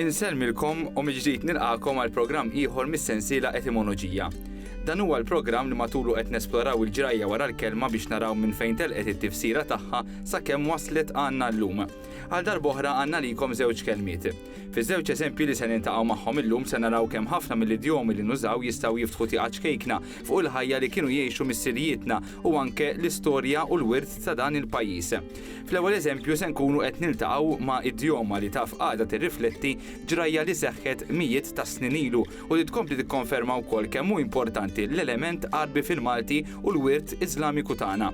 Insellmilkom u miġdijt nilqakom għal programm ieħor mis-sensiela etimoloġija. Dan huwa l-programm li matulu qed nesploraw il-ġrajja wara l-kelma biex naraw minn fejn telqet it-tifsira tagħha sakemm waslet għandna llum. Għal darboħra għandna likom żewġ kelmiet. Fiż-żewġ eżempji li se niltaqgħu magħhom illum se naraw kemm ħafna mill-idjomi li nużaw jistgħu jiftħu tieqa ċkejkna fuq il-ħajja li kienu jgħixu missirijietna u anke l-istorja u l-wirt ta' dan il-pajjiż. Fl-ewwel eżempju se nkunu qed niltaqgħu ma' idjoma li taf għadha tirrifletti ġrajja li seħħet mijiet ta' snin ilu u li tkompli tikkonferma wkoll kemm hu importanti l-element Għarbi fil-Malti u l-wirt Iżlamiku tagħna.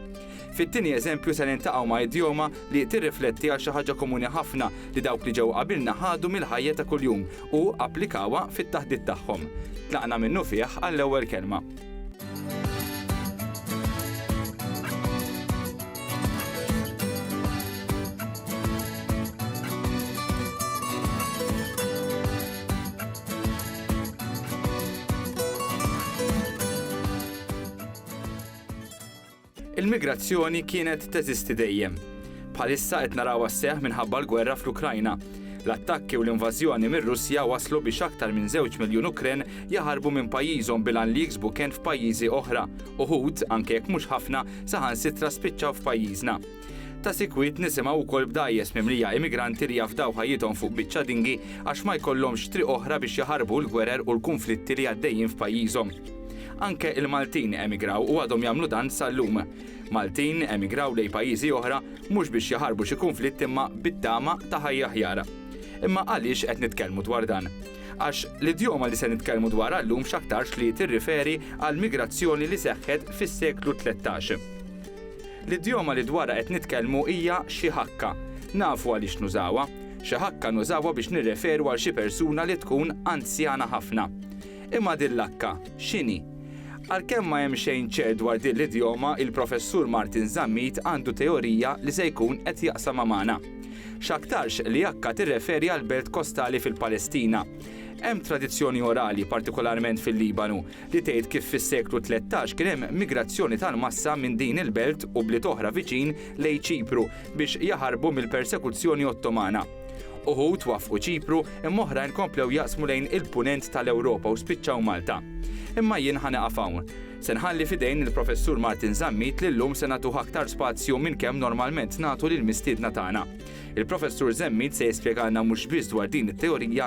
Fit-tieni eżempju se niltaqgħu ma' idjoma li tirrifletti għal xi ħaġa komuni ħafna li dawk li ġew qabilna ħadu mill-ħajja ta' kuljum u applikawha fit-taħdit tagħhom. Tlaqna minnufih għall-ewwel kelma. Il-migrazzjoni kienet teżisti dejjem. Bħalissa qed narawha sseħħ minħabba l-gwerra fl-Ukrajna. L-attakki u l-invażjoni mir-Russja wasslu biex aktar minn żewġ miljun Ukren jaħarbu minn pajjiżhom bil-għan li jiksbu kenn f'pajjiżi oħra. Uħud, anke jekk mhux ħafna, saħansitra spiċċaw f'pajjiżna. Ta' sikwit nisimgħu wkoll b'dgħajjes mimlija immigranti li jafdaw ħajjithom fuq biċċa dinghy għax ma jkollhomx triq oħra biex jaħarbu l-gwerer u l-kunflitti li għaddejjin f'pajjiżhom. Anke l-Maltin emigraw u għadhom jagħmlu dan sal-lum. Maltin emigraw lejn pajjiżi oħra mhux biex jaħarbu xi kunflitt imma bit-tama ta' ħajja aħjar. Imma għaliex qed nitkellmu dwar dan? Għax l-idjoma li se nitkellmu dwarha llum x'aktarx li tirriferi għall-migrazzjoni li seħħet fis-seklu tlettax. L-idjoma li dwarha qed nitkellmu hija xi ħakka. Nafu għaliex nużawha. Xi ħakka nużawha biex nirreferu għal xi persuna li tkun anzjana ħafna. Imma din l-hakka, x'inhi? Għalkemm ma hemm xejn ċert dwar din l-idjoma, il-Professur Martin Zammit għandu teorija li se jkun qed jaqsamha magħna. X'aktarx li hakka tirreferi għal belt kostali fil-Palestina. Hemm tradizzjoni orali, partikolarment fil-Libanu, li tgħid kif fis-seklu tlettax kien hemm migrazzjoni tal-massa minn din il-belt u bliet oħra viċin lejn Ċipru biex jaħarbu mill-persekuzzjoni Ottomana. Uħud waffqu Ċipru imma oħrajn komplew jaqsmu lejn il-Punent tal-Ewropa u spiċċaw Malta. Imma jien ħa nieqaf hawn. Se nħalli f'idejn il-Professur Martin Zammit li llum se nagħtuh aktar spazju minn kemm normalment nagħtu lill-mistiedna tagħna. Il-Professur Zammit se jispjegalna mhux biss dwar din it-teorija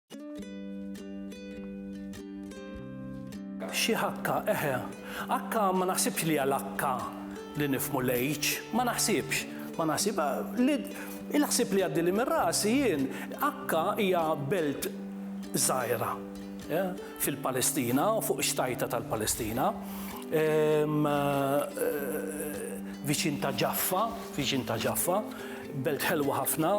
Xi ħakka, eħe. Akka ma naħsibx li hija l-akka li nifhmu l-H. Ma naħsibx. Ma naħsib. Il-ħsieb li jgħaddili minn rasi jien, akka hija belt żgħira. fil-Palestina u fuq ix-xtajta tal-Palestina, viċin ta' Ġaffa, viċin ta' Ġaffa, belt ħelwa ħafna,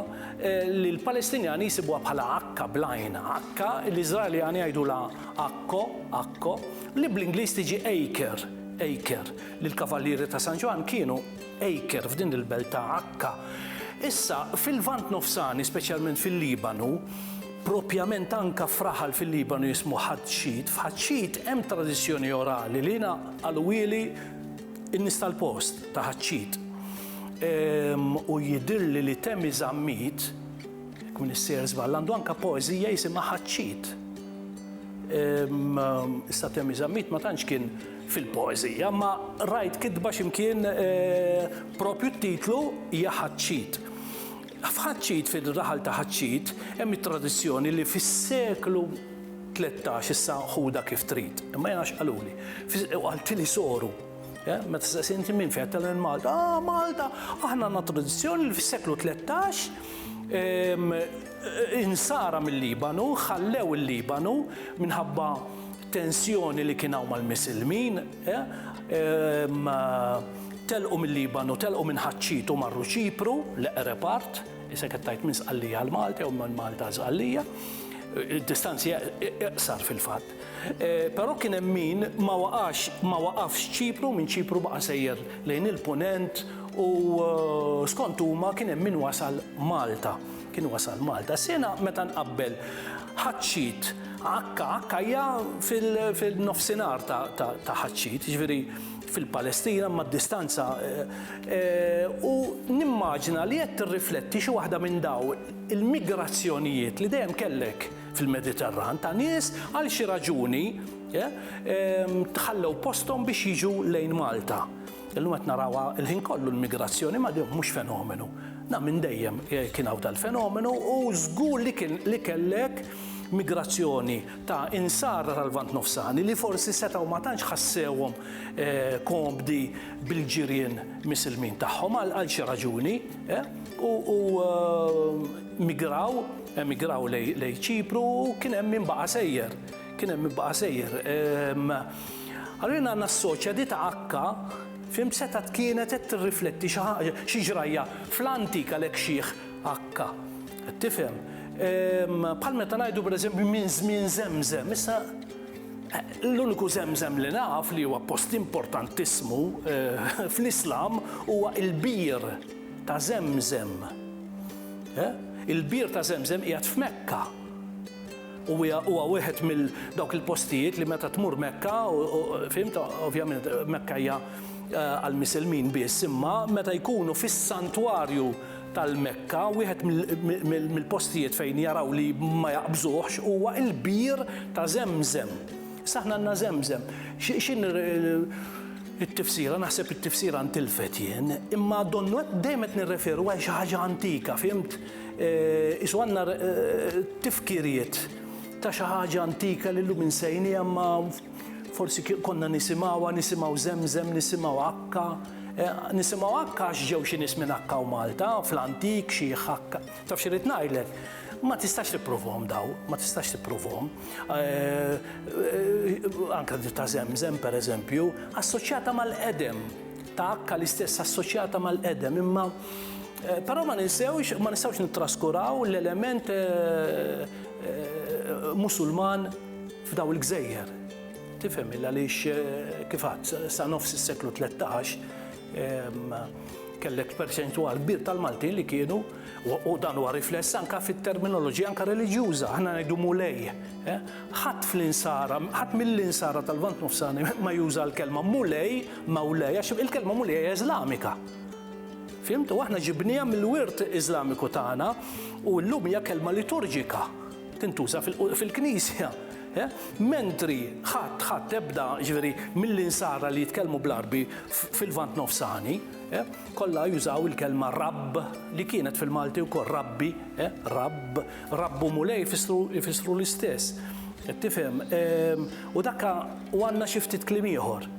li l-Palestinjani jsibuha bħala akka bl-għajn, akka, l-Iżraeljani jgħidulha akko, akko, li bl-Ingliż tiġi acre, acre, li l-Kavallieri ta' San Ġwann kienu acre f'din il-belt ta' akka. Issa, fil-Lvant Nofsani, speċjalment fil-Libanu, Propjament anka f'raħal fil-Libanu jismu Ħatxit, f'Ħatxit hemm tradizzjoni orali li naqaluhieli n-nies tal-post ta' Ħatxit. U jidhirli li Temi Zammit, jekk m'iniex sejjer żball, għandu anka poeżija jisimha Ħatxit. Issa Temi Zammit ma tantx kien fil-poeżija, imma rajt kitba x'imkien propju t-titlu hija Ħatxit. F'Ħaċċid, fir-raħal ta' Ħaċċid, hemm it-tradizzjoni li fis-seklu tlettax, issa ħudha kif trid, imma jiena hekk qaluli, u qaltili soru, meta staqsiet inti minn fejn, għedtilha minn Malta, ah Malta, aħna għandna tradizzjoni li fis-seklu tlettax insara mil-Libanu ħallew il-Libanu minħabba tensjoni li kien hawn mal-Misilmin, Telqu mil-Libanu, telqu minn Ħaċċit u marru Ċipru, l-eqreb art, isek qed tgħid minn Sqallija għal Malta jew minn Malta għal Sqallija. Id-distanzi iqsar fil-fatt. Però kien hemm min ma waqax ma waqafx Ċipru, minn Ċipru baqa' sejjer lejn il-Punent u skont huma kien hemm min wasal Malta. Kien wasal Malta. Sena meta nqabbel Ħaċċit, Akka, Akka hija fil-nofsinhar ta' Ħaċċit, jiġifieri fil-Palestina imma d-distanza u nimmaġina li qed tirrifletti xi waħda minn daw il-migrazzjonijiet li dejjem kellek fil-Mediterran ta' nies għal xi raġuni ħallew posthom biex jiġu lejn Malta. Illum qed narawha l-ħin kollu l-migrazzjoni ma dihom mhux fenomenu. Na minn dejjem kien hawn dal-fenomenu u żgur li kien li kellek migrazzjoni ta' insara tal-Lvant Nofsani li forsi setgħu ma tantx ħassewhom komdi bil-ġirien Misilmin tagħhom għal xi raġuni u migraw, emigraw lejn Ċipru u kien hemm min baqa' sejjer, kien hemm min baqa' sejjer. Allura jiena nassoċja di ta' Akka, fhimt, setgħet kienet qed tirrifletti xi ħaġa, xi ġrajja fl-antik għalhekk xiħ H. Tifhem? Bħal meta ngħidu pereżempju minn żmien żemżem, issa l-uniku żemżem li naf li huwa post importantissmu fl-Islam huwa l-bir ta' Żemżem. Il-bir ta' Żemżem qiegħed f'Mekka. U huwa wieħed mill dawk il-postijiet li meta tmur Mekka, fimt, ovvjament Mekka hija għall-Misilmin biss, imma meta jkunu fis-santwarju tal-Mekka, wieħed mill-postijiet fejn jaraw li ma jaqbżuhx huwa l-bir ta' Żemżem. Issa aħna għandna Żemżem. X'inhi t-tifsira? Naħseb it-tifsira ntilfet jien, imma donnu qed dejjem qed nirreferu għal xi ħaġa antika, fhimt? Qisu għandna tifkiriet ta' xi ħaġa antika li llum insejniha imma Forsi konna nisimgħuha, nisimgħu żemżem, nisimgħu akka. Eh, nisimgħu akka għax ġew xi nies minn akka u Malta, fl-antik xi akka. Taf xi rrid ngħidlek? Ma tistax tipprovhom daw, ma tistax tipprovhom. Eh, eh, anka ta' żemżem pereżempju, assoċjata mal-qedem, ta' akka l-istess assoċjata mal-qedem, imma Eh, però ma ninsewx, ma nistawx nittraskuraw l-element eh, eh, musulman F'dawn il-gżejjer, tifhem, għaliex kif għadt, sa nofs is-seklu tlettax kellek perċentwal kbir tal-Maltin li kienu u dan huwa rifless anke fit-terminoloġija anke reliġjuża, aħna ngħidu mulej. Eh? Ħadd fl-insara, ħadd mill-insara tal-Vant Nofsani ma juża l-kelma mulej, mawlej, għax il-kelma mulej hija Iżlamika. Fimtu, aħna ġibnija mill-wirt Iżlamiku tagħna u llum hija kelma liturġika. tintuża fil-Knisja. Eh? Mentri ħadd ħadd ebda ġveri mill-insara li jitkellmu bl-arbi fil-vant nofsani, eh? kollha jużaw il-kelma rabb li kienet fil-Malti wkoll rabbi, eh? rabb, rabbu mulej jfissru l-istess. Tifhem? Ehm, u dakka u għandna xi ftit kliem ieħor.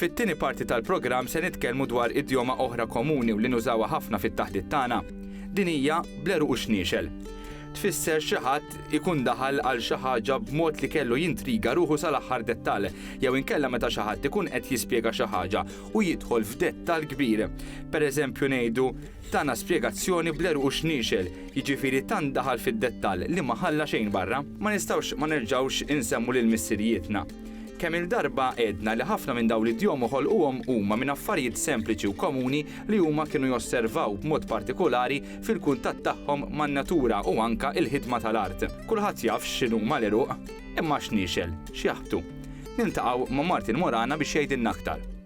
Fit-tieni parti tal-programm se nitkellmu dwar idjoma oħra komuni u li nużawha ħafna fit-taħdit tagħna. Din hija bl-għeruq u xniexel. Tfisser xi ħadd ikun daħal għal xi ħaġa b'mod li kellu jintriga ruħu sal-aħħar dettall, jew inkella meta xi ħadd ikun qed jispjega xi ħaġa u jidħol f'dettall kbir. Pereżempju ngħidu, tana spjegazzjoni bl-għeruq u xniexel, jiġifieri tant daħal fid-dettall li ma ħalla xejn barra. Ma nistgħux ma nerġgħux insemmu lil missirijietna. Kemm-il darba għedna li ħafna minn dawn l-idjom u ħolquhom huma minn affarijiet sempliċi u komuni li huma kienu josservaw b'mod partikulari fil-kuntatt tagħhom man-natura u anke il-ħidma tal-art. Kulħadd jaf x'inhuma l-għeruq, imma x'niexel, x'jaħbtu? Niltaqgħu ma' Martin Morana biex jgħidilna aktar.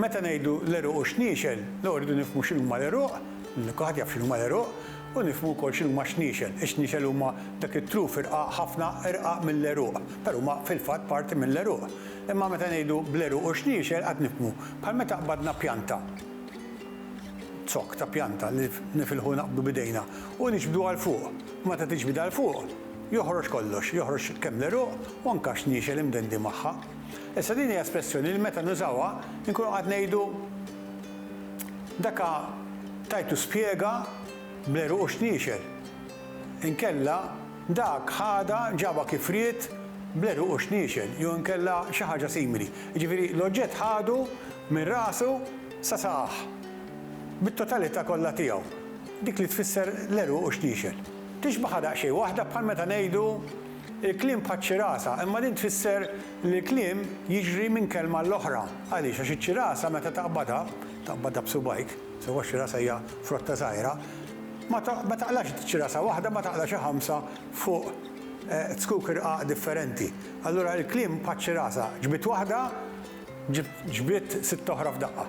Meta ngħidu l-għeruq u x-xniexel, l-ewwel irridu nifhmu x'inhuma l-għeruq, kulħadd jaf x'inhuma l-għeruq, u nifhmu wkoll x'inhuma x-xniexel. Ix-xniexel huma dak it-truf irqaq ħafna irqaq mill-għeruq, però huma fil-fatt parti mill-għeruq. Imma meta ngħidu bl-għeruq u x-xniexel qatt nifhmu, bħal meta qbadna pjanta, zokk ta' pjanta li nifilħu naqbdu b'idejna u niġbduha 'l fuq. U meta tiġbidha 'l fuq, joħroġ kollox, joħroġ kemm l-għeruq u anke xniexel imdendi magħha. Issa din hija espressjoni li meta nużawha inkunu qed ngħidu daka tajtu spjega bl-għeruq u x-xniexel. Inkella dak ħadha ġabha kif ried bl-għeruq u x-xniexel jew inkella xi ħaġa simili. Jiġifieri l-oġġett ħadu minn rasu sa saqajh bit-totalità kollha tiegħu, dik li tfisser l-għeruq u x-xniexel. Tixbaħha daqsxejn waħda bħal meta ngħidu Il-kliem bħaċ-ċirasa, imma din tfisser li l-kliem jiġri minn kelma għall-oħra. Għaliex? Għax iċ-ċirasa meta taqbadha, taqbadha b'subgħajk, sewwa x-xirasa hija frotta żgħira, ma ma taqlax ċirasa waħda, ma taqla xi ħamsa fuq zkuk irqaq differenti. Allura il-kliem bħaċ-ċirasa, ġbidt waħda, ġbidt sitt oħra f'daqqa.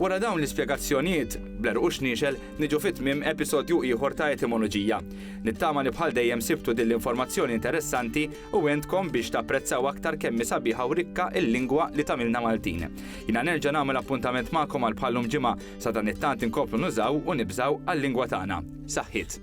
Wara dawn l-ispjegazzjonijiet, bl-għeruq u x-xniexel, niġu fi tmiem episodju ieħor ta' Etimoloġija. Nittama li bħal dejjem sibtu din l-informazzjoni interessanti u għentkom biex tapprezzaw aktar kemm hi sabiħa u rikka l-lingwa li tagħmilna Maltin. Jiena nerġa' nagħmel appuntament magħkom għal bħal-lum ġimgħa, sadanittant inkomplu nużaw u nibżgħu għal-lingwa tagħna. Saħħiet!